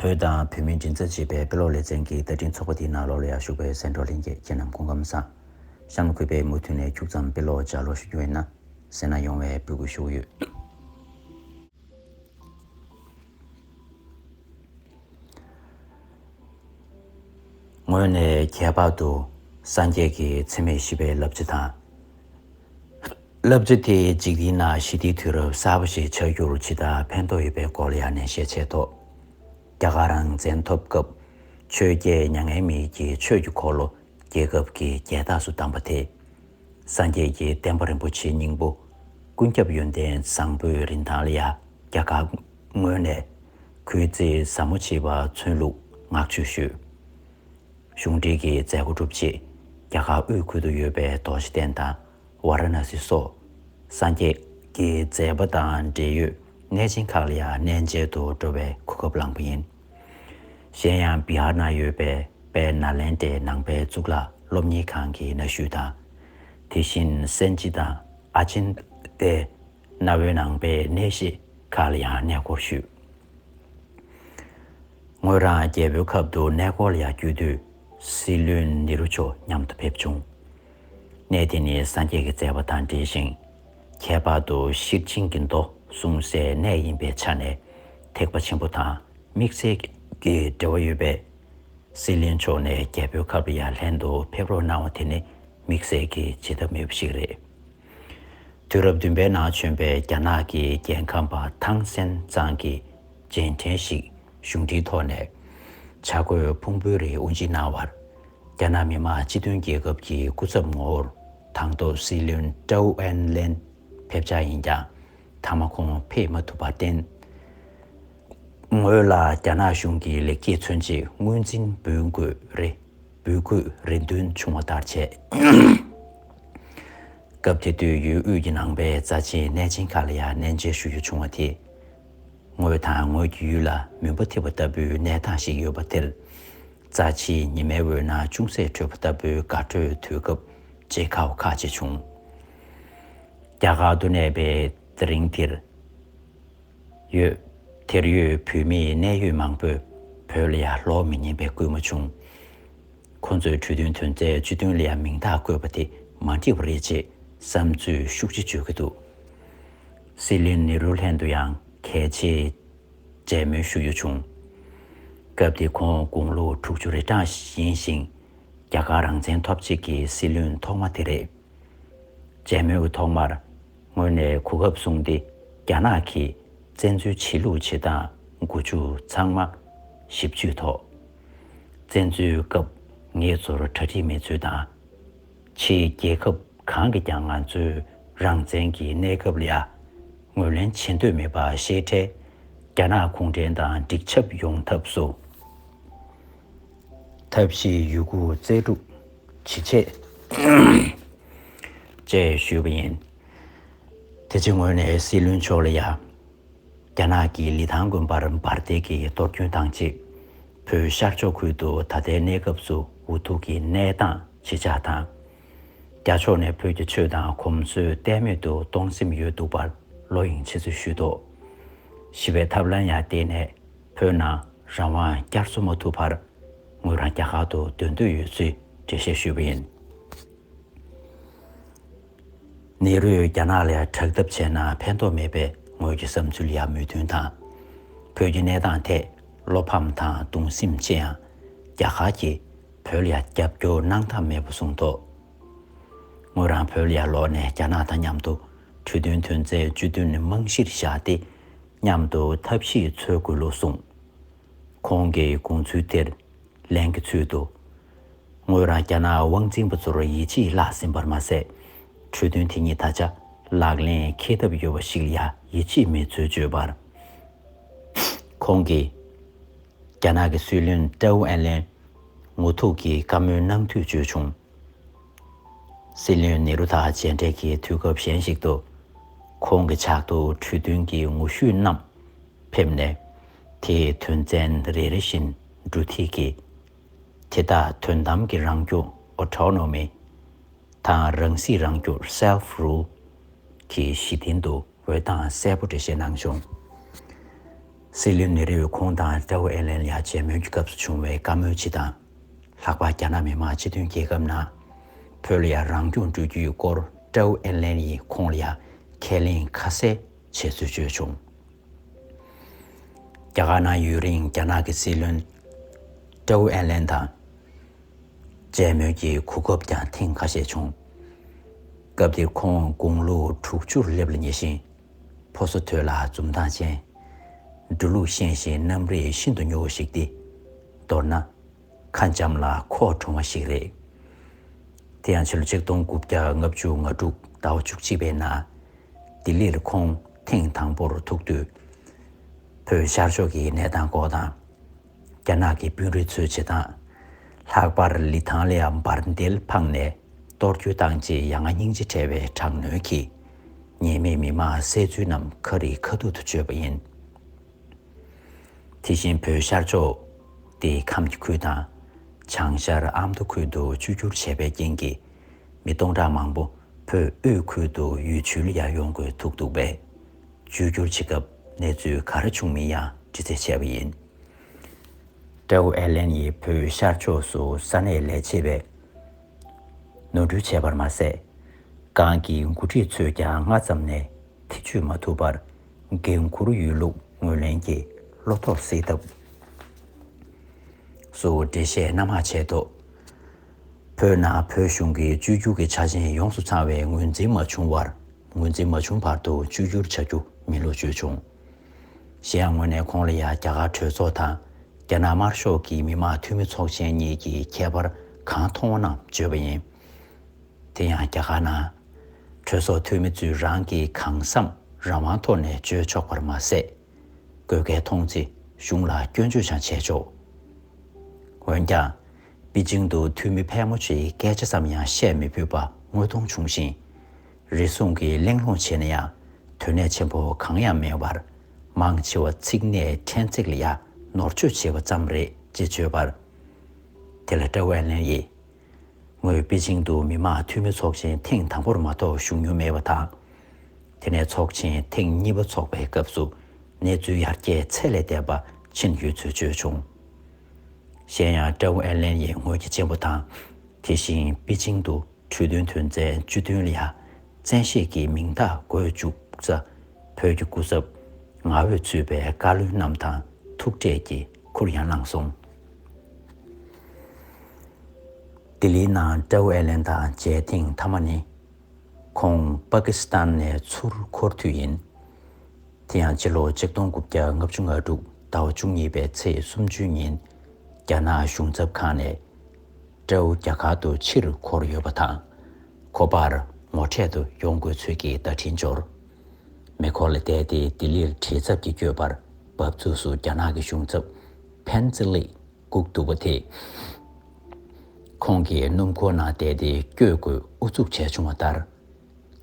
བོད་དང་བོད་མིའི་མགྲིན་ཚབ་བྱེད་པའི་དཔེ་ཀློག་ལེ་ཚན་གྱི་བསྟར་འཕྲིན་ཚོགས་པ་དེའི་ནང་ལོ་ལོ་ཡར་ཞུགས་པའི་སེང་འབྲོག་ལྷན་རྒྱས་ཁྱེད་རྣམས་གོ་སྐབས་མཚམས་གཤམ་ལ་འཁོད་པའི་མུ་མཐུད་ནས་འཁྱུག་ཙམ་དཔེ་ཀློག་ལྗགས་ཀློག་ཞུ་རྒྱུ་ཡོད་ན། སེར་སྣ་ཡོང་བའི་འབོད་སྐུལ་ཞུ་གི་ཡོད། ངོས་ནས་ཁྱད་པར་དུ་སངས་རྒྱས་ཀྱི་འཚེ་མེད་ཞི་བའི་རླབས་ཆེ་དང། བསླབ་ཚུལ་དེ་འཇིག་རྟེན་ན་ཞི་བདེའི་དུས་རབས་གསར་པ་ཞིག་ཆགས་རྒྱུར་ཇི་ལྟར་ཕན་ཐོགས་ཡོད་པའི་སྐོར་ཡང་ནས་ཤས་འཆད་དོ། རྒྱ་གར་རང་བཙན་ཐོབ་སྐབས་ཆོས་རྒྱལ་མྱ་ངན་མེད་ཀྱིས་ཆོས་ཀྱི་འཁོར་ལོ་རྒྱལ་ཁབ་ཀྱི་རྒྱལ་རྟགས་སུ་བདམས་པ་དེ། སངས་རྒྱས་ཀྱི་བསྟན་པ་རིན་པོ་ཆེའི་སྙིང་པོ་ཀུན་ཁྱབ་ཡོན་ཏན་བཟང་པོའི་རིན་ཐང་ལ་ཡང་རྒྱ་གར་ངོས་ནས་གུས་བརྩི་ཟབ་མོ་བྱེད་པ་མཚོན་ལུགས་ངག་བཅོལ་ཞུས། གཞུང་འབྲེལ་གྱི་མཛད་སྒོ་གྲུབ་རྗེས་རྒྱ་གར་དབུས་ཁུལ་དུ་ཡོད་པའི་དོགས་གཞི་བསྟན་དང། བ་ར་ན་སི་སོགས་སངས་རྒྱས་ཀྱི་མཛད་པ་དང་འབྲེལ་ཡོད་གནས་ཆེན་ཁག་ལ་ཡང་གནས་མཇལ་དུ་འགྲོ་བའི་གོ་སྐབས་བླངས་པ་ཡིན། གཞན་ཡང་བི་ཧར་ན་ཡོད་པའི་པའི་ནཱ་ལེནྡྲའི་ནང་པའི་གཙུག་ལག་སློབ་གཉེར་ཁང་གི་གནའ་ཤུལ་དང། དེ་བཞིན་སན་ཅི་དང་ཨ་ཅིན་ཏའི་གནའ་བོའི་ནང་པའི་གནས་གཞི་ཁག་ལ་ཡང་གནས་སྐོར་ཞུས། ངོས་རང་རྒྱལ་པོའི་ཁབ་ཏུ་གནས་སྐོར་ལ་ཡང་བསྐྱོད་དུས་སྲིད་བློན་ནེ་རུ་མཆོག་མཉམ་དུ་ཕེབས་བྱུང། གནས་དེ་ནི་སངས་རྒྱས་ཀྱི་བརྩེ་བ་དང་འབྲེལ་ཞིང། ཁྱད་པར་དུ་ཤེར་ཕྱིན་གྱི་མདོ་གསུངས་སའི་གནས་ཡིན་པའི་ཆ་ནས་ཐེག་པ་ཆེན་པོ་དང་དམིགས་བསལ་གྱི་འབྲེལ་བ་ཡོད་པས། སྲིད་གླིང་ཕྱོགས་ནས་རྒྱལ་པོའི་ཁབ་ལ་ཡང་ལྷན་དུ་ཕེབས་རོགས་གནང་བ་དེ་ནི་དམིགས་བསལ་གྱི་བྱེད་ཐབས་མེད་པ་ཞིག་རེད། དུས་རབས་བདུན་པའི་ནང་བྱོན་པའི་རྒྱ་ནག་གི་རྒྱལ་ཁམས་པ་ཐང་སན་ཙང་གིས་རྗེས་དྲན་ཞིག་གཞུང་འབྲེལ་ཐོག་ནས་བྱ་རྒོད་ཕུང་པོའི་རིགས་དབུ་འབྱེད་གནང་བར། རྒྱ་ནག་མི་དམངས་སྤྱི་མཐུན་རྒྱལ་ཁབ་ཀྱི་སྐུ་ཚབ་ངོ་བོར་དང་ཐོག་སྲིད་བློན་ཀྲའུ་ཨན་ལན་ཕེབས་འཆར་ཡིན་ཀྱང་མཐའ་མ་ཁོང་ཕེབས་མ་ཐུབ་པར་བརྟེན། ངོས་ལ་རྒྱ་ནག་གཞུང་གི་ལེགས་སྐྱེས་མཚོན་ཆེད་དངུལ་འཛིན་འབུལ་དགོས་རེ་འབུལ་དགོས་རེ་འདུན་བྱུང་བ་ལྟར་བྱས། སྐབས་དེ་དུས་ཡུལ་དབུས་ཀྱི་ནང་པའི་རྩ་ཆེའི་གནས་ཆེན་ཁག་ལ་ཡང་གནས་མཇལ་ཞུ་རྒྱུ་བྱུང་བ་དེས། ངོས་དང་ངོས་ཀྱི་ཡུལ་ལ་མུན་པ་ཐིབས་པ་ལྟ་བུའི་གནས་སྟངས་ཤིག་ཡོད་པ་དེར། རྩ་ཆེའི་ཉི་མའི་འོད་སྣང་ཅུང་ཟད་འཕྲོས་པ་ལྟ་བུའི་དགའ་སྤྲོའི་དུས་སྐབས་བརྗེད་ཁ་བོ་ཁ་ཅིག་བྱུང། རྒྱ་གར་དུ་གནས་པའི་དེ་རིང་དེར་ཡོད། དེར་ཡོད་བོད་མིའི་གནད་ཡོད་མང་པོས་བོད་ལ་ཡར་ལོག་མི་ཉན་པའི་སྐུལ་མ་བྱུང། ཁོ་ཚོས་གྲོས་མཐུན་དོན་ཚན་བཅུ་བདུན་ལ་ཡང་མིང་རྟགས་བཀོད་པ་དེ་མ་འགྲིག་པ་རེད་ཅེས་བསམ་ཚུལ་ཤུགས་ཆེ་བརྗོད་ཀྱི་འདུག་སྲིད་བློན་ནེ་རུ་ལྷན་དུ་ཡང་གལ་ཆེའི་མཇལ་མོལ་ཞུ་ཡུལ་བྱུང། སྐབས་དེའི་ཁོང་དགུང་ལོ་དྲུག་ཅུ་རེ་གྲངས་ཡིན་ཞིང། རྒྱ་གར་རང་བཙན་ཐོབ་རྗེས་ཀྱི་སྲིད་བློན་ཐོག་མ་དེ་རེད། མཇལ་མོལ་གྱི་ཐོག་མར་ངོས་ནས་གོ་སྐབས་བཟུང་སྟེ་རྒྱ་ནག་གིས་བཙན་འཛུལ་བྱེད་ལུགས་བྱེད་སྟངས་དགུ་བཅུ་ཚང་མ་ཞིབ་འཇུས་ཐོག། བཙན་འཛུལ་སྐབས་ངེད་ཚོར་གྲ་སྒྲིག་མེད་ཚུལ་དང། ཕྱིའི་རྒྱལ་ཁབ་གང་གིས་ཀྱང་ང་ཚོའི་རང་བཙན་གྱི་གནས་སྐབས་ལ་ངོས་ལེན་བྱེད་འདོད་མེད་པ་ཤེས་འཕྲལ་རྒྱ་ནག་གུང་ཁྲན་ཏང་འགྲིག་ཆབ་ཡོང་ཐབས་སུ་ཐབས་ཤེས་ཡོད་རྒུ་རྩལ་སྤྲུག་ཇི་བྱེད། ཅེས་ཞུས་པ་ཡིན། དེ་ཕྱི་ངོས་ནས་སྲིད་བློན་མཆོག་ལ་ཡང་རྒྱ་ནག་གིས་ལི་ཐང་དགོན་པར་འབར་མདེལ་གྱི་གཏོར་སྐྱོན་བཏང་རྗེས་བོད་ཤར་ཕྱོགས་ཁུལ་དུ་ད་ལྟའི་གནས་སྐབས་སུ་འུ་ཐུག་གི་གནས་སྟངས། ཞེས་བྱ་དང། རྒྱ་ཕྱོགས་ནས་བོད་ཀྱི་ཆོས་དང་གོམས་སྲོལ་གཏན་མེད་དུ་གཏོང་སེམས་ཡོད་འདུག་པར་བློ་གཡེང་ཆེ་ཚུལ་ཞུས་ཏོ། ཞི་བའི་ཐབས་ལམ་ཡང་བརྟེན་ནས་བོད་ནང་རང་དབང་བསྐྱར་གསོ་མ་ཐུབ་བར་ངོས་རང་རྒྱ་གར་དུ་སྡོད་འདོད་ཡོད་ཚུལ་འགྲེལ་བཤད་ཞུས་པ་ཡིན། ནེ་རུས་རྒྱ་ནག་ལས་དྲག་འཐབ་བྱས་ན་ཕན་ཐོགས་མེད་པའི་ངོས་ཀྱི་བསམ་ཚུལ་ཡང་མོས་མཐུན་དང། བོད་ཀྱི་གནས་སྟངས་ཐད་བློ་ཕམ་དང་གདུང་སེམས་ཆེ་ཡང་རྒྱ་གར་གྱིས་བོད་ཡར་རྒྱབ་སྐྱོར་གནང་ཐབས་མེད་པ་གསུངས་འདུག་ངོས་རང་བོད་ཡར་ལོག་ནས་རྒྱ་ནག་དང་མཉམ་དུ་གྲོས་མཐུན་དོན་ཚན་བཅུ་བདུན་རྨང་གཞིར་བཞག་སྟེ་མཉམ་དུ་ཐབས་ཤེས་འཚོལ་དགོས་ལུགས་གསུངས། ཁོང་གི་དགོངས་ཚུལ་དེར་ལན་གྱི་ཚུལ་དུ། ངོས་རང་རྒྱ་ནག་དབང་འཛིན་པ་ཚོར་ཡིད་ཆེས་བརླགས་ཟིན་པར་མ་ཟད། གྲོས་མཐུན་དེ་ཉིད་ད་ཆ་ལག་ལེན་འཁེལ་ཐབས་ཡོད་པ་ཞིག་ལ་ཡང་ཡིད་ཆེས་མེད་ཚུལ་བརྗོད་པར། ཁོང་གིས། རྒྱ་ནག་གི་སྲིད་བློན་ཀྲའུ་ཨན་ལན་ངོ་ཐུག་གིས་བཀའ་མོལ་གནང་དུས་བརྗོད་བྱུང། སྲིད་བློན་ནེ་རུ་དང་མཇལ་འཕྲད་ཀྱི་དུས་སྐབས་གཞན་ཞིག་ཏུ། ཁོང་གི་ཕྱག་ཏུ་གྲོས་མཐུན་གྱི་ངོ་བཤུས་རྣམས་ཕེབས་ནས། དེའི་དོན་ཚན་རེ་རེ་བཞིན་འབྲུ་ཐིག་གིས། དེ་དག་དོན་དམ་གྱི་རང་རྒྱུད Autonomy། དང་རང་སྲིད་རང་རྒྱུད Self-Rule། གྱི་གཞི་རྟེན་དུ་འོད་དང་གསལ་པོ་འགྲེལ་བཤད་གནང་བྱུང། སྲིད་བློན་ནེ་རི་ཡུ་ཁོང་དང་ཀྲའོ་ཨེ་ལན་ལ་མཇལ་མོལ་གྱི་སྐབས་སུ་བྱུང་བའི་བཀའ་མོལ་སྤྱི་དང། ལྷག་པར་རྒྱ་ནག་མི་དམངས་སྤྱི་མཐུན་རྒྱལ་ཁབ་ནང་བོད་ལ་ཡང་རང་སྐྱོང་སྤྲོད་རྒྱུའི་སྐོར་ཀྲའོ་ཨེ་ལན་ཡིས་ཁོང་ལ་ཡང་ཁས་ལེན་ཁ་གསལ་བྱས་ཚུལ་བརྗོད་བྱུང། རྒྱ་གར་ནང་ཡུན་རིང་རྒྱ་ནག་གི་སྲིད་བློན་ཀྲའོ་ཨེ་ལན་དང་མཇལ་མོལ་གྱི་གོ་སྐབས་ཀྱང་ཐེངས་ཁ་ཤས་བྱུང། སྐབས་དེར་ཁོང་དགུང་ལོ་དྲུག་ཅུར་སླེབས་ལ་ཉེ་ཞིང། ཕོ་སོ་ཐོད་ལ་འཛུམ་མདངས་ཅན། འགྲོ་ལུགས་ཤེས་བཞིན་རྣམ་རིག་ཤིན་ཏུ་མྱུར་བ་ཞིག་སྟེ། མདོར་ན། ཁ་འཇམ་ལ་ཁོག་དྲོང་བ་ཞིག་རེད། དེ་ཡང་ཕྱི་ལོ་ཆིག་སྟོང་དགུ་བརྒྱ་ལྔ་བཅུ་ང་དྲུག་ཟླ་བ་བཅུ་གཅིག་པའི་ནང། ལྡི་ལིར་ཁོང་ཐེངས་དང་པོར་ཐུག་དུས། བོད་ཤར་ཕྱོགས་ཀྱི་གནས་སྟངས་སྐོར་དང། རྒྱ་ནག་གི་དཔོན་རིགས་ཚོའི་བྱེད་སྟངས། ལྷག་པར་ལི་ཐང་ལའང་འབར་མདེལ་འཕངས་ནས་གཏོར་རྒྱུ་བཏང་རྗེས་ཡ་ང་སྙིང་རྗེ་བྲལ་བའི་དྲག་གནོན་གྱིས། ཉེས་མེད་མི་མང་བསད་ཚུལ་རྣམས་ཁ་རིས་ཁ་ཐུག་ཏུ་བརྗོད་པ་ཡིན། དེ་བཞིན་བོད་ཤར་ཕྱོགས་ཏེ་ཁམས་སྐྱིད་ཁུལ་དང། བྱང་ཤར་ཨ་མདོ་ཁུལ་དུ་བཅོས་བསྒྱུར་བྱས་པའི་རྐྱེན་གྱིས། མི་སྟོང་ཕྲག་མང་པོ་བོད་དབུས་ཁུལ་དུ་ཡུལ་བྱོལ་ཡར་ཡོང་དགོས་ཐུག་འདུག་པས། བཅོས་བསྒྱུར་བྱེད་སྐབས་གནས་ཚུལ་ག་རེ་བྱུང་མིན་ཡང་འདྲི་རྩད་བྱས་པ་ཡིན། ཀྲའོ་ཨེ་ལེན་ཡིས་བོད་ཤར་ཕྱོགས་སུ་ས་གནས་ལས་བྱེད་པས་ནོར་འཁྲུལ་བྱས་པར་མ་ཟད། ཀང་གི་མགོ་ཁྲིད་ཚོས་ཀྱང་སྔ་ཙམ་ནས་ཐེ་བྱུས་མ་ཐུབ་པར་འགན་འཁུར་ཡོད་ལུགས་ངོས་ལེན་གྱིས་བློ་ཐོག་སེལ་ཐབས་སུ་འགྲེལ་བཤད་སྣ་མང་བྱས་ཐོག་བོད་ནང་བོད་གཞུང་གི་བཅོས་བསྒྱུར་གྱི་ཆ་རྐྱེན་ཡོངས་སུ་ཚང་བའི་ངོས་འཛིན་མ་བྱུང་བར། ངོས་འཛིན་མ་བྱུང་བར་དུ་བཅོས་བསྒྱུར་བྱ་རྒྱུ་མིན་ལོ་བརྗོད་བྱུང། གཞན་ཡང་ངོས་ནས་ཁོང་ལ་ཡང་རྒྱ་གར་གྲོས་ཚོགས་དང་རྒྱ་ནག་དམར་ཤོག་གི་མི་དམངས་འཐུས་མི་ཚོགས་ཆེན་གཉིས་ཀྱི་ཁྱད་པར་གང་མཐོང་བ་རྣམས་བརྗོད་པ་ཡིན། དེ་ཡང་རྒྱ་གར་ནང། གྲོས་ཚོགས་འཐུས་མི་ཚོས་རང་གི་གང་བསམ་རང་དབང་ཐོག་ནས་བརྗོད་ཆོག་པར་མ་ཟད། དགོས་གལ་མཐོང་ཚེ་གཞུང་ལ་སྐྱོན་བརྗོད་ཀྱང་བྱས་ཆོག། འོན་ཀྱང། པི་ཅིང་དུ་འཐུས་མི་ཕལ་མོ་ཆེའི་སྐད་ཆ་ཙམ་ཡང་བཤད་མི་ཕོད་པ་དངོས་མཐོང་བྱུང་ཞིང། རེ་ཟུང་གིས་གླེང་སློང་བྱས་ན་ཡང་དོན་གནད་ཆེན་པོ་གང་ཡང་མེད་པར། མང་ཆེ་བ་ཚིག་གནད་ཕྲན་ཚེགས་ལ་ཡ་ནོར་བཅོས་བྱས་པ་ཙམ་རེད་ཅེས་བརྗོད་པར། དེ་ལ་ཀྲའོ་ཝན་ལན་ཡིས། ངོས་པེ་ཅིང་དུ་མི་དམངས་འཐུས་མི་ཚོགས་ཆེན་ཐེངས་དང་པོར་མ་གཏོགས་ཞུགས་མྱོང་མེད་པ་དང། དེ་ནས་ཚོགས་ཆེན་ཐེངས་གཉིས་པ་འཚོགས་པའི་སྐབས་སུ་གནས་ཚུལ་ཡར་རྒྱས་ཚད་ལས་འདས་པ་ཕྱིན་ཡོད་ཚུལ་བརྗོད་བྱུང། གཞན་ཡང་ཀྲའོ་ཨེར་ལན་ཡིས་ངོས་ཀྱི་གཅེན་པོ་དང་དེ་བཞིན་པེ་ཅིང་དུ། འཕྲོས་བསྟུན་དོན་ཚན་བཅུ་བདུན་ལ་བཙན་ཤེད་ཀྱིས་མིང་རྟགས་འགོད་བཅུག་ས། བོད་ཀྱི་སྐུ་ཚབ། ང་འོས་ཚུད་པའི་བཀའ་བློན་རྣམས་དང་ཐུག་འཕྲད་ཀྱིས་ཁུར་ཡང་བླངས་སོང། ལྡི་ལིའི་ནང་ཀྲའུ་ཨེ་ལེན་དང་མཇལ་ཐེངས་མཐའ་མ་ནི། ཁོང་པཱ་ཀི་སི་ཐན་ནས་ཚུར་འཁོར་དུས་ཡིན། དེ་ཡང་སྤྱི་ལོ་གཅིག་སྟོང་དགུ་བརྒྱ་ལྔ་བཅུ་ང་དྲུག་ཟླ་བ་བཅུ་གཉིས་པའི་ཚེས་སུམ་ཅུའི་ཉིན། རྒྱ་ནག་གཞུང་ཚབ་ཁང་ནས། སྤྲེའུ་རྒྱ་གར་དུ་ཕྱིར་འཁོར་ཡོད་པ་དང། ཁོ་པར་ངོ་འཕྲད་དུ་ཡོང་དགོས་ཚུལ་གྱི་བརྡ་འཕྲིན་འབྱོར། མེ་འཁོར་ལ་བསྡད་དེ་ལྡི་ལིར་བྲེལ་འཚབ་ཀྱིས་བསྐྱོད་པར་བབས་ཚུགས་སུ་རྒྱ་ནག་གི་གཞུང་ཚབ་བྷན་ཙི་ལིས་བསྒུགས་འདུག་པ་དེས། ཁོང་གིས་སྣུམ་འཁོར་ནང་བསྡད་དེ་བསྐྱོད་དགོས་ཨུ་ཚུགས་བྱས་བྱུང་བ་ལྟར།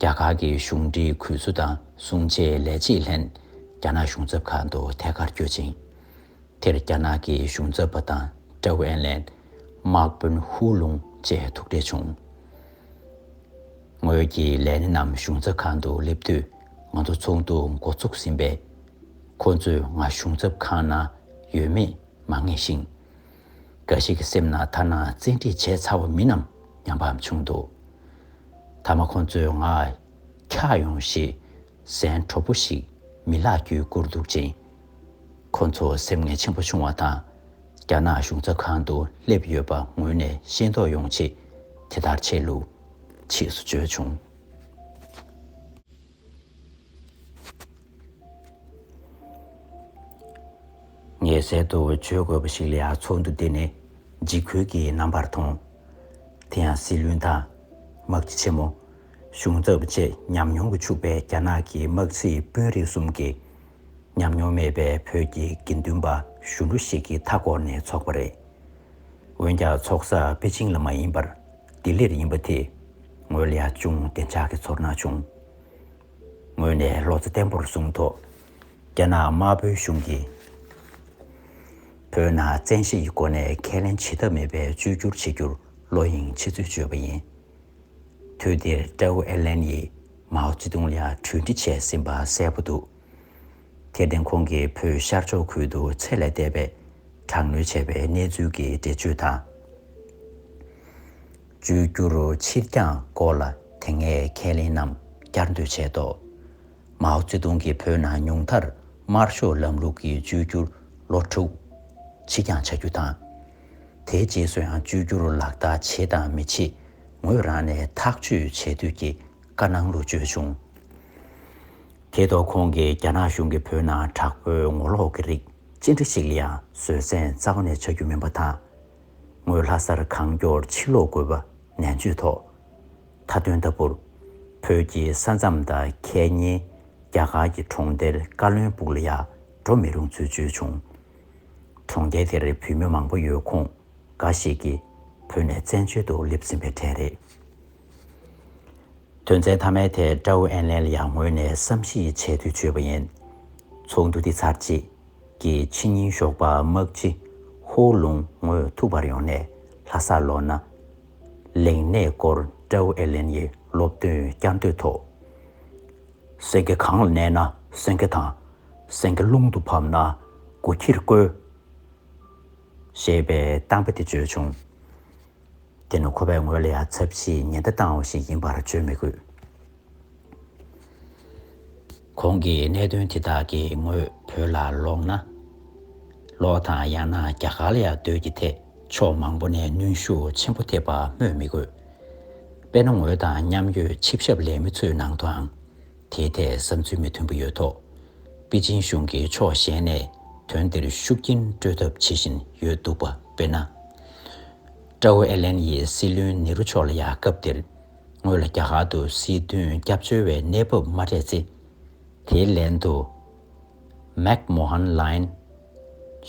རྒྱ་གར་གྱི་གཞུང་འབྲེལ་གུས་བསུ་དང་བསྲུང་བྱའི་ལས་བྱེད་ལྷན་རྒྱ་ནག་གཞུང་ཚབ་ཁང་དུ་ཐད་ཀར་བསྐྱོད་ཅིང། དེར་རྒྱ་ནག་གི་གཞུང་ཚབ་པ་དང་ཀྲའོ་ཨེན་ལན། དམག་དཔོན་ཧུའུ་ལུང་བཅས་ཐུག་འཕྲད་བྱུང། ངོས་ཀྱིས་ལན་རྣམས་གཞུང་ཚབ་ཁང་དུ་སླེབས་དུས་ང་ཚོ་ཚོགས་འདུ་འགོ་ཚུགས་ཟིན་པས། ཁོ་ཚོས་ང་གཞུང་ཚབ་ཁང་ན་ཡོད་མེད་མ་ངེས་ཤིང། འགའ་ཞིག་གི་སེམས་ན་ཐ་ན་བཙན་ཁྲིད་བྱས་ཚར་བ་མིན་ནམ་སྙམ་པའམ་བྱུང་འདུག་མཐའ་མ་ཁོ་ཚོས་ང་འཁྱགས་ཡོང་ཞེས་ཟན་དྲོ་པོ་ཞིག་མི་ལག་བརྒྱུད་བསྐུར་འདུག་ཅིང། ཁོ་ཚོ་སེམས་ངལ་ཆེན་པོ་བྱུང་བ་དང། རྒྱ་ནག་གཞུང་ཚབ་ཁང་དུ་སླེབས་ཡོད་པ་ངོས་ནས་ཤེས་རྟོགས་ཡོང་ཆེད་དེ་ལྟར་བྱས་ལུགས། ཕྱིས་སུ་བརྗོད་བྱུང། ངས་གསལ་དུ་བརྗོད་དགོས་པ་ཞིག་ལ་ཡང་ཚོགས་འདུ་འདི་ནི་འཇིགས་སྐུལ་གྱི་རྣམ་པར་མཐོང། དེ་ཡང་སྲིད་བློན་དང། དམག་སྤྱི་ཆེན་མོ། གཞུང་ཚབ་བཅས་ཉམས་མྱོང་གིས་ཕྱུག་པའི་རྒྱ་ནག་གི་དམག་སྲིད་དཔོན་རིགས་གསུམ་གྱིས། ཉམས་མྱོང་མེད་པའི་བོད་ཀྱི་དགེ་འདུན་པ་གཞོན་ནུ་ཞིག་གིས་མཐའ་བསྐོར་ནས་འཚོགས་པ་རེད། འོན་ཀྱང་འཚོགས་ས་པེ་ཅིང་ལ་མ་ཡིན་པར་ལྡི་ལིར་ཡིན་པ་དེ་ངོས་ལ་ཡང་ཅུང་བདེ་འཇགས་ཀྱི་ཚོར་སྣང་བྱུང། ངོས་ནས་བློ་རྩེ་བརྟན་པོར་བཟུང་ཐོག་རྒྱ་ནག་དམར་པོའི་གཞུང་གིས་བོད་ནང་བཙན་ཤེད་ཀྱི་སྒོ་ནས་ཁས་ལེན་བྱེད་ཐབས་མེད་པའི་བཅོས་བསྒྱུར་བྱེད་རྒྱུར་བློ་གཡེང་བྱེད་ཚུལ་བརྗོད་པ་ཡིན། དུས་དེར་ཀྲའོ་ཨེར་ལན་ཡིས་མའོ་ཙེ་ཏུང་ལ་གྲོས་འདྲི་བྱས་ཟིན་པ་གསལ་པོ་འདུག་དེར་བརྟེན་ཁོང་གིས་བོད་ཤར་ཕྱོགས་ཁུལ་དུ་ཚད་ལས་འདས་པའི་དྲག་གནོན་བྱས་པའི་གནས་ཚུལ་གྱི་འགྲེལ་བརྗོད་དང། བཅོས་བསྒྱུར་ཕྱིར་འགྱངས་སྐོར་ལ་དེ་སྔའི་ཁས་ལེན་རྣམས་བསྐྱར་ཟློས་བྱས་ཐོག། མའོ་ཙེ་ཏུང་གིས་བོད་ནང་ཉུང་མཐར་དམར་ཤོག་ལམ་ལུགས་ཀྱི་བཅོས་བསྒྱུར་ལོ་དྲུག་ཕྱི་འགྱངས་བྱ་རྒྱུ་དང། དེའི་རྗེས་སུ་ཡང་བཅོས་བསྒྱུར་ལག་བསྟར་བྱེད་དང་མི་བྱེད་ངོས་རང་ནས་ཐག་གཅོད་བྱེད་འདོད་ཀྱི་བཀའ་གནང་ལུགས་བརྗོད་བྱུང། དེ་ཐོག་ཁོང་གིས་རྒྱ་ནག་གཞུང་གིས་བོད་ནང་དྲག་པོའི་ངོ་ལོག་གི་རིགས་ཅི་འདྲ་ཞིག་ལ་ཡང་བཟོད་བསྲན་རྩ་བ་ནས་བྱ་རྒྱུ་མིན་པ་དང། ངོས་ལྷ་སར་གང་མགྱོགས་ཕྱིར་ལོག་དགོས་པ་ནན་བརྗོད་ཐོག་མཐའ་དོན་ལྟ་བུར། བོད་ཀྱི་ས་མཚམས་དང་ཁད་ཉེའི་རྒྱ་གར་གྱི་གྲོང་སྡེར་བཀའ་བློན་སྤུག་ལ་ཡང་འགྲོ་མི་རུང་ཚུལ་བརྗོད་བྱུང། གྲོང་རྡལ་དེར་བོད་མི་མང་པོ་ཡོད་ཁོངས་འགའ་ཞིག་གིས་བོད་ནས་བཙན་བྱོལ་དུ་སླེབས་ཟིན་པའི་གྲས་རེད། དོན་ཚན་མཐའ་མའི་ཐད་ཀྲའོ་ཨེན་ལེན་ཡང་ངོས་ནས་བསམ་གཞིགས་བྱས་དུས་བརྗོད་པ་ཡིན། ཚོགས་འདུ་འདི་ཚར་རྗེས་ཀྱི་ཕྱི་ཉིན་ཞོགས་པ་དམག་སྤྱི་ཧོ་ལུང་ངོས་ཐུག་པར་ཡོང་ནས་ལྷ་སར་ལོག་ན། ལེགས་གནས་སྐོར་ཀྲའོ་ཨེན་ལེན་ཡི་སློབ་སྟོན་བསྐྱར་ཟློས་ཐོག། སེང་གེ་གང་ལ་གནས་ན་སེང་གེ་དང། སེང་གེ་ཀླུང་དུ་བབས་ན་དགུ་ཁྱིར་བསྐོས། ཞེས་པའི་གཏམ་དཔེ་དེ་བརྗོད་བྱུང། དེ་ནི་ཁོ་པའི་ངོས་ལ་ཡང་ཚབས་ཆེའི་ཉེན་བརྡ་བཏང་བ་ཞིག་ཡིན་པར་བརྗོད་མི་དགོས། གོང་གི་གནད་དོན་དེ་དག་གི་ངོས་བོད་ལ་ལོག་ན། ལོག་དང་ཡང་ན་རྒྱ་གར་ལ་ཡང་སྡོད་ཀྱི་ཐད་ཕྱོགས་མང་པོ་ནས་གནོན་ཤུགས་ཆེན་པོ་ཐེབས་པ་སྨོས་མི་དགོས། དཔེར་ན་ངོས་དང་མཉམ་ཡོད་ཆིབས་ཞབས་ལས་མི་ཚོའི་ནང་དུའང། དེའི་ཐད་བསམ་ཚུལ་མི་མཐུན་པོ་ཡོད་ཐོག་པེ་ཅིན་གཞུང་གིས་ཕྱོགས་གཞན་ནས་དོན་དེར་ཤུགས་རྐྱེན་སྤྲོད་ཐབས་བྱེད་བཞིན་ཡོད་འདུག་པ་དཔེར་ན། ཀྲའོ་ཨེ་ལན་ཡིས་སྲིད་བློན་ནེ་རུ་མཆོག་ལ་ཡང་སྐབས་དེར་ངོས་ལ་རྒྱ་གར་དུ་སྲིད་དོན་སྐྱབས་བཅོལ་བའི་གནས་བབ་མ་སྤྲད་ཚེ། དེའི་ལན་དུ། མཱེཀ་མོ་ཧན་ལཱིན།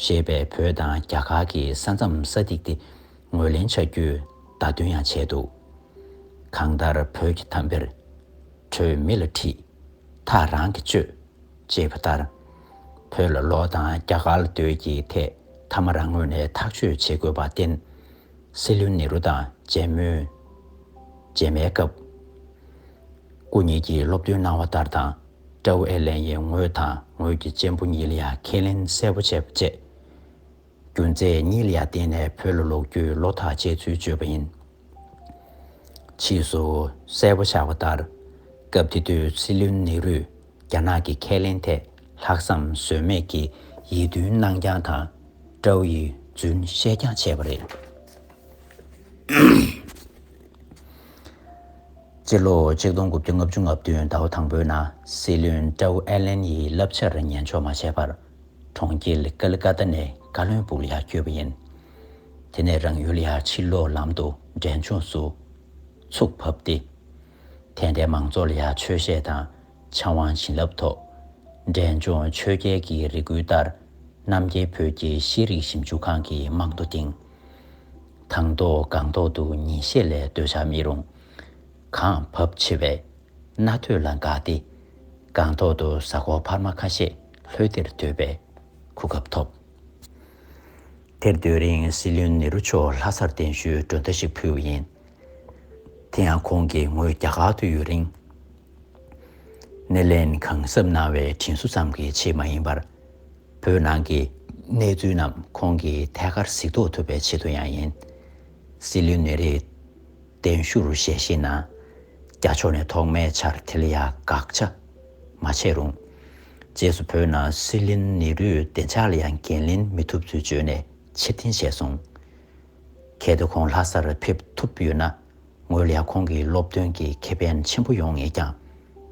ཞེས་པའི་བོད་དང་རྒྱ་གར་གྱི་ས་མཚམས་ས་ཐིག་དེ་ངོས་ལེན་བྱ་རྒྱུའི་བརྡ་སྟོན་ཡང་བྱས་འདུག་གང་ལྟར་བོད་ཀྱི་དམ་དཔེར། ཁྲོས་མི་ལ་ཁྲིད། ཐག་རང་གིས་གཅོད། ཅེས་པ་ལྟར། བོད་ལ་ལོག་དང་རྒྱ་གར་ལ་སྡོད་ཀྱི་ཐད་ཐ་མ་རང་ངོས་ནས་ཐག་གཅོད་བྱེད་དགོས་པར་བརྟེན། སྲིད་བློན་ནེ་རུ་དང་མཇལ་མོལ། མཇལ་མའི་སྐབས། སྐུ་ཉིད་ཀྱིས་སློབ་སྟོན་གནང་བ་ལྟར་དང། ཀྲའུ་ཨེར་ལན་ཡིས་ངོས་དང་ངོས་ཀྱི་གཅེན་པོ་ཉི་ལི་ཡ་ཁས་ལེན་གསལ་པོ་བྱས་པ་བཅས། རྒྱུ་མཚན་ཉི་ལི་ཡ་བརྟེན་ནས་བོད་ལ་ལོག་རྒྱུའི་བློ་ཐག་བཅད་ཚུལ་བརྗོད་པ་ཡིན། ཕྱིས་སུ་གསལ་པོ་ཆགས་པ་ལྟར། སྐབས་དེ་དུས་སྲིད་བློན་ནེ་རུས་རྒྱ་ནག་གི་ཁས་ལེན་ཐད་ལྷག་བསམ་ཟོལ་མེད་ཀྱི་ཡིད་རྟོན་གནང་རྐྱང་དང་ཀྲའོ་ཡི་རྫུན་བཤད་རྐྱང་བྱས་པ་རེད། སྤྱི་ལོ་ཆིག་སྟོང་དགུ་བརྒྱ་ལྔ་བཅུ་ལྔ་བདུན་ཟླ་བ་དང་པོའི་ནང་སྲིད་བློན་ཀྲའོ་ཨེ་ལེན་ཡིས་བསླབ་བྱར་ཉན་ཆོག་མ་བྱས་པར། གྲོང་ཁྱེར་ཀལ་ཀ་ཏཱ་ནས་བཀའ་བློན་པུར་ཡར་བསྐྱོད་པ་ཡིན། དེ་ནས་རང་ཡུལ་ཡར་ཕྱིན་ལོག་ལམ་དུ་འབྲས་ལྗོངས་སུ་ཚུགས་ཕབ་སྟེ། དེ་འདྲའི་མང་ཚོགས་ལ་ཡར་ཆོས་བཤད་དང་ཕྱམ་དབང་བྱིན་རླབས་ཐོབ། འབྲས་ལྗོངས་ཆོས་རྒྱལ་གྱི་རེ་སྐུལ་ལྟར་རྣམ་རྒྱལ་བོད་ཀྱི་ཤེས་རིག་ཞིབ་འཇུག་ཁང་གི་རྨང་རྡོ་བཏིང། དང་ཐོག་སྒང་ཐོག་ཏུ་ཉིན་ཤས་ལས་སྡོད་བྱ་མི་རུང། གངས་བབ་ཆེ་བས་རྣ་ཐོས་ལ་དགའ་སྟེ། སྒང་ཐོག་ཏུ་གཟའ་འཁོར་འཕར་མ་ཁ་ཤས་ལྷོད་དེར་སྡོད་པའི་གོ་སྐབས་ཐོབ། དེར་སྡོད་རིང་སྲིད་བློན་ནེ་རུ་མཆོག་ལྷ་སར་གདན་ཞུའི་མགྲོན་བརྡ་ཞིག་ཕུལ་བ་ཡིན། དེ་ཡང་ཁོང་གིས་ངོས་རྒྱ་གར་དུ་ཡོད་རིང། སྣེ་ལེན་གང་གཟབ་གནང་བའི་དྲིན་གཟོ་ཙམ་གྱི་ཆེད་མ་ཡིན་པར། བོད་ནང་གི་གནས་ཚུལ་རྣམས་ཁོང་གིས་ཐད་ཀར་གཟིགས་རྟོགས་ཐུབ་པའི་ཆེད་དུ་ཡང་ཡིན། སྲིད་བློན་ནེ་རི། གདན་བཞུགས་རུ་ཞལ་ཤེས་ན། རྒྱ་ཕྱོགས་ནས་ཐོག་མའི་ཆར་དྷི་ལི་ཡ་དགག་བྱ་མ་བྱས་རུང། རྗེས་སུ་བོད་ནང་སྲིད་གླེང་ནི་རུའི་བདེ་འཇགས་ལ་ཡང་འགན་ལེན་མི་ཐུབ་ཚུལ་བརྗོད་ནས་ཕྱིར་འཐེན་བྱས་སོང། གལ་ཏེ་ཁོང་ལྷ་སར་ཕེབས་ཐུབ་ཡོད་ན་ངོས་ལ་ཁོང་གི་སློབ་སྟོན་གྱི་ཁེ་ཕན་ཆེན་པོ་ཡོང་ངེས་ཀྱང་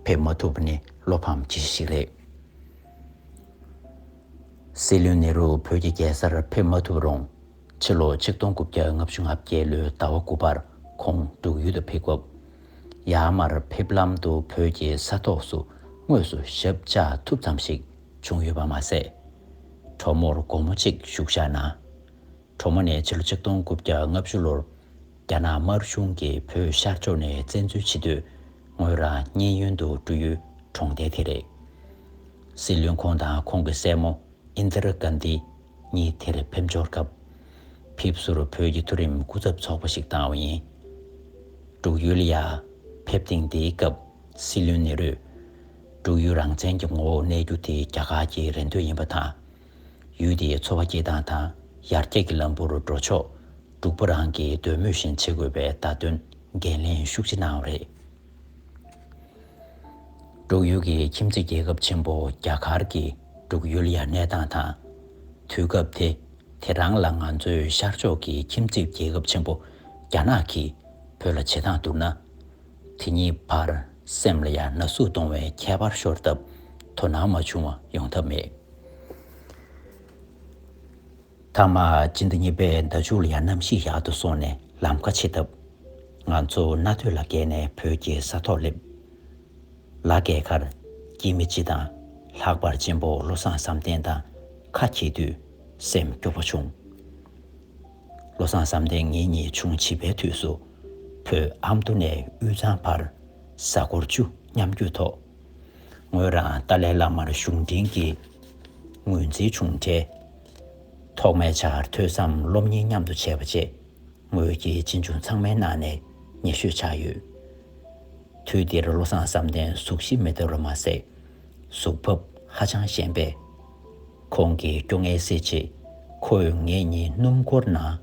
ཕེབས་མ་ཐུབ་པ་ནི་བློ་ཕམ་ཅི་ཞིག་རེད། སྲིད་གླེང་ནི་རུ་བོད་ཀྱི་རྒྱལ་སར་ཕེབས་མ་ཐུབ་རུང་ཕྱི་ལོ་ཆིག་སྟོང་དགུ་བརྒྱ་ལྔ་བཅུ་ང་བརྒྱད་ལོའི་ཟླ་བ་དགུ་པར་ཁོང་འབྲུག་ཡུལ་དུ་ཕེབས་སྐབས། ཡར་མར་ཕེབས་ལམ་དུ་བོད་ཀྱི་ས་ཐོག་སུ་དངོས་སུ་ཞབས་བཅག་ཐུབ་ཙམ་ཞིག་བྱུང་ཡོད་པ་མ་ཟད། གྲོ་མོར་དགོང་མོ་གཅིག་བཞུགས་བཞག་ན། གྲོ་མོ་ནས་ཕྱི་ལོ་ཆིག་སྟོང་དགུ་བརྒྱ་ལྔ་བཅུ་ལོར་རྒྱ་ནག་དམར་གཞུང་གིས་བོད་ཤར་ཕྱོགས་ནས་བཙན་འཛུལ་བྱེད་དུས་ངོས་རང་མཉན་ཡོན་དུ་འགྲུ་ཡུལ་གྲོང་བརྡལ་དེ་རེད། སྲིད་བློན་ཁོང་དང་ཁོང་གི་སྲས་མོ་ཨིནྡིར་ཀཱན་དཱི། ངས་དེར་ཕེབས་འབྱོར་སྐབས། ཕེབས་བསུར་བོད་ཀྱི་མཐོ་རིམ་སྐུ་ཚབ་ཚོགས་པ་ཞིག་བཏང་བ་ཡིན། འབྲུག་ཡུལ་ཡར་ཕེབས་ཐེངས་དེའི་སྐབས་སྲིད་བློན་ནེ་རུས། འབྲུག་ཡུལ་རང་བཙན་གྱི་ངོ་བོར་གནས་རྒྱུ་དེ་རྒྱ་གར་གྱི་རེ་འདོད་ཡིན་པ་དང། ཡུལ་དེའི་འཚོ་བ་སྐྱེལ་སྟངས་དང་ཡར་རྒྱས་ཀྱི་ལམ་བུར་འགྲོ་ཕྱོགས་འབྲུག་པ་རང་གི་འདོད་མོས་བཞིན་བྱེད་དགོས་པའི་བརྡ་སྟོན་འགན་ལེན་ཤུགས་ཆེ་གནང་བ་རེད། འབྲུག་ཡུལ་གྱི་ཁྱིམ་མཚེས་རྒྱལ་ཁབ་ཆེན་པོ་རྒྱ་གར་གྱིས་འབྲུག་ཡུལ་ཡར་གནས་སྟངས་དང། དུས་སྐབས་དེ་དེ་རང་ལ་ང་ཚོའི་ཤར་ཕྱོགས་ཀྱི་ཁྱིམ་མཚེས་རྒྱལ་ཁབ་ཆེན་པོ་རྒྱ་ནག་གིས་བོད་ལ་བྱེད་སྟངས་བསྡུར་ན། དེ་གཉིས་བར་སེམས་ལ་ཡ་ན་ཟུག་གཏོང་བའི་ཁྱད་པར་ཤོར་སྟབས་དོ་སྣང་མ་བྱུང་བ་ཡོང་ཐབས་མེད། མཐའ་མ་སྤྱི་ཟླ་གཉིས་པའི་ཟླ་མཇུག་ལ་ཡང་གནམ་གཤིས་ཡག་ཏུ་སོང་ནས་ལམ་ཁ་ཕྱེ་སྟབས། ང་ཚོ་རྣ་ཐོས་ལ་བརྒལ་ནས་བོད་ཀྱི་ས་ཐོག་སླེབས། ལ་བརྒལ་ཁར། སྐྱེས་མི་སྤྱི་དང། ལྷག་པར་གཅེན་པོ་བློ་བཟང་བསམ་གཏན་དང་ཁ་གྱེས་དུས་སེམས་སྐྱོ་བོ་བྱུང། བློ་བཟང་བསམ་གཏན་ངེད་གཉིས་ཆུང་བྱིས་པའི་དུས་སུ། བོད་ཨ་མདོ་ནས་དབུས་གཙང་བར་གཟའ་འཁོར་བཅུ་མཉམ་བརྒྱུད་ཐོག། ངོས་རང་ཏཱ་ལའི་བླ་མར་གཞུང་འབྲེལ་གྱི་ངོས་འཛིན་བྱུང་འཕྲལ། ཐོག་མའི་ཆར་ཐོས་བསམ་སློབ་གཉེར་མཉམ་དུ་བྱས་པ་བཅས་ངོས་ཀྱི་གཅེན་གཅུང་ཚང་མའི་ནང་ནས་ཉེ་ཤོས་ཆགས་ཡོད། དུས་དེར་བློ་བཟང་བསམ་གཏན་གཟུགས་གཞི་མི་ལྟ་རུ་མ་ཟད། གཟུགས་བབ་ཧ་ཅང་ཞན་པས། ཁོང་གིས་སྐྱོ་ངལ་སེལ་ཆེད་ཁོས་ངེད་གཉིས་སྣུམ་འཁོར་ནང་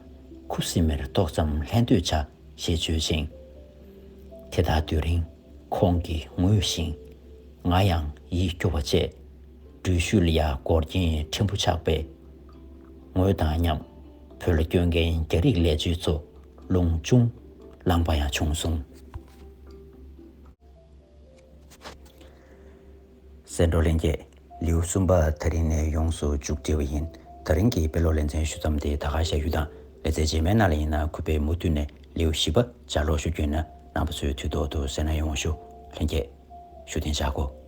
ཁུ་སིམ་མེར་ཏོག་ཙམ་ལྷན་སྡོད་བྱ། ཞེས་བརྗོད་ཅིང། དེ་དག་སྡོད་རིང་ཁོང་གིས་ངུས་ཤིང། ང་ཡང་ཡིད་སྐྱོ་བ་བཅས། འགྲུལ་བཞུད་ལ་ཡར་སྐོར་གྱིན་ཕྲན་བུ་ཆགས་པས། ངོས་དང་མཉམ་བོད་ལ་སྐྱོད་མཁན་རྒྱ་རིགས་ལས་བྱེད་ཚོ་རླུང་ཅུང་ལངས་པ་ཡང་བྱུང་སོང། སེ་འབྲུ་ལེན་རྒྱས། ལེའུ་གསུམ་པ་ཐག་རིང་ནས་ཡོངས་སུ་བཅུག་བྲིས་པ་ཡིན། ཐག་རིང་གིས་དཔེ་ཀློག་ལེ་ཚན་ཞུ་མཚམས་དེ་ད་ག་བྱ་ཡུལ་དང་ལེ་ཚན་རྗེས་མའི་ནང་ལ་ཡིན་ན་གུས་པས་མུ་མཐུད་ནས་ལེའུ་བཞི་པ་བྱ་ཀློག་ཞུ་རྒྱུ་ཡིན་ན་ནང་པ་ཚོས་དུས་ཐོག་ཏུ་གསན་ན་ཡོང་ཞུ། ལྷན་རྒྱས། ཞུ་རྟེན་བྱ་དགོས།